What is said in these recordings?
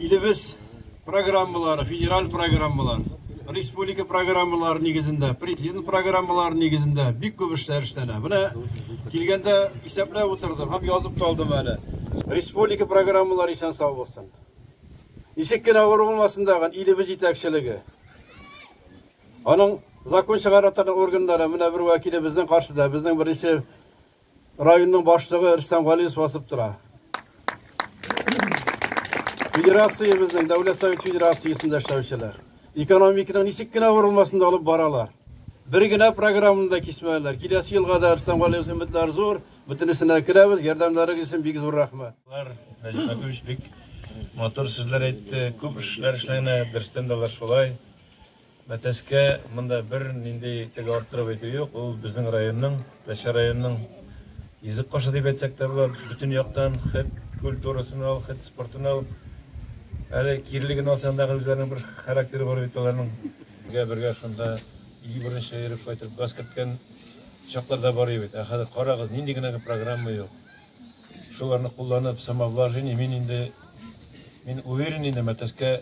Илебез программалары, федераль программалар, республика программалары нигезендә, президент программалары нигезендә бик күп эшләр эшләнә. Менә килгәндә исәпләп утырдым һәм язып та алдым әле. Республика программалары исән сау булсын. Ничек кенә авыр булмасын дагы илебез җитәкчелеге. Аның закон чыгара торган органнары менә бер вәкиле безнең каршыда, безнең беренче районның башлыгы Рөстәм Галиев басып тора. Федерациябезнең Дәүләт Совет Федерациясендә эшләүчеләр. Экономиканың ничек кенә борылмасын алып баралар. Бер генә программаны кисмәләр. Киләсе елга да Рөстәм Галиев өметләр зур. Бөтенесенә керәбез. Ярдәмнәрегез өчен бик зур рәхмәт. Рәҗәпәкович бик матур сүзләр әйтте. Күп эшләр эшләнә, дөрестән дә алар шулай. Мәтәскә монда бер нинди теге арттырып әйтү юк, ул безнең районның, Ләшә районының йөзек кашы дип әйтсәк тә була, бөтен яктан, хет культурасын ал, хет спортын ал, әле Кирлеген алсаң да үзләренең бер характеры бар бит аларның. Бергә бергә шунда ил беренче йөреп кайтып газ керткән чаклар да бар иде бит, ә хәзер карагыз, нинди генә программа юк. Шуларны кулланып, самовложение, мин инде, мин уверен инде, Мәтәскә,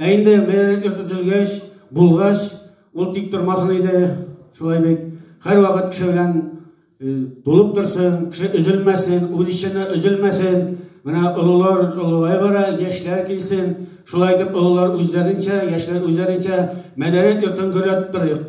Ә инде менә эш төзелгәч, булгач, ул тик тормасын иде, шулай бит. Һәрвакыт кеше белән э, тулып торсын, кеше өзелмәсен, үз эшенә өзелмәсен. Менә олылар олыгая бара, яшьләр килсен. Шулай итеп олылар үзләренчә, яшьләр үзләренчә мәдәният йортын гөрләтеп торыйк.